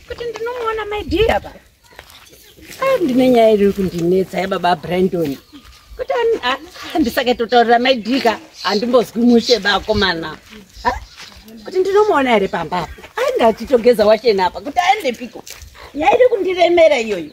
Kuti ndinomuona my dear ba. Ah ndine nyaya iri kundinetsa yababa Brandon. Kuti handisake totaurira my dear handimbozwi mushe bakomana. Kuti ndinomuona here pamba apa. Ah ndatitogeza wachena apa kuti aende piko. Nyaya iri kundiremera iyoyo.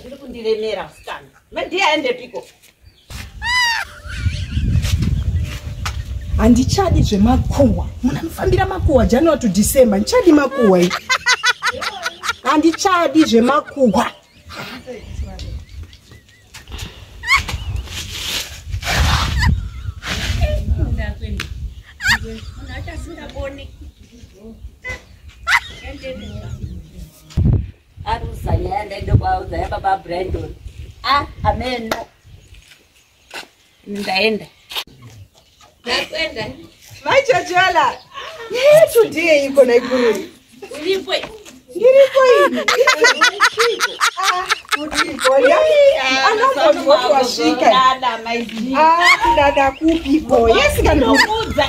zviri kundiremera musikana madii aendepiko handichadi zvemakuhwa muna mufambira makuhwa january to december ndichadi makuhwa i handichadi zvemakuhwa aruzanyaya ndaida kwaudza yababa brandon a ah, ameno ndaenda ndakwenda mai chachola today iko naikuru uripo ndiripo ini anozozvotwasvika kudada kupi boy asikanokuudza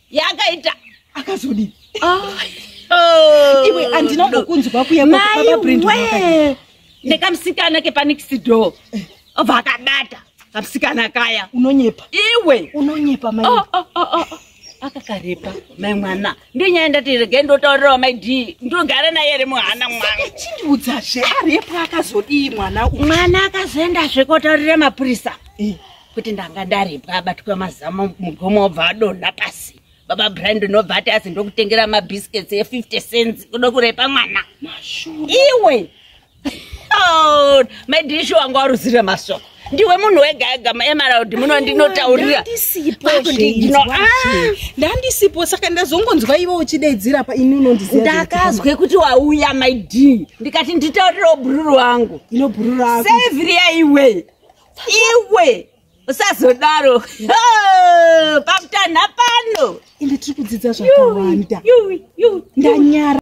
yakaita akazodii Oh, iwe handina no. kukunzwa kuya kwa- Mai baba Brenda wee. wakadii? nekamusikana kepanikisido obva akabata kamusikana kaya unonyepa iwe unonyepa mai Oh, oh, oh, oh. akakarepa mai mwana ndenyaya ndati regai ndotaurirawo mai d ndogara naye ri muhana mwana chindiudzazve arepa akazodii mwana uyu mwana akazoendazve kotaurira mapurisa Eh, kuti ndanga ndaribwa abatwa mazama mugomo obva adonha pasi baba brind unobva ati asi ndokutengera mabiscuits e50 cents kudo kurepa mwana iwe oh, madishu wanga waruzira masoko ndiwe munhu wega ega emaraundi muno ndinotaurira ndandisipo ah! saka ndazongonzwa ivo uchidaidzira pa ini unondiziva ndakazwe kuti wauya maid ndikati nditaurirawo bhururu wangu inobrurusevriya iwe iwe usazodaro pakutanha pano ende tiri kudzidza zvakawanda ndanyara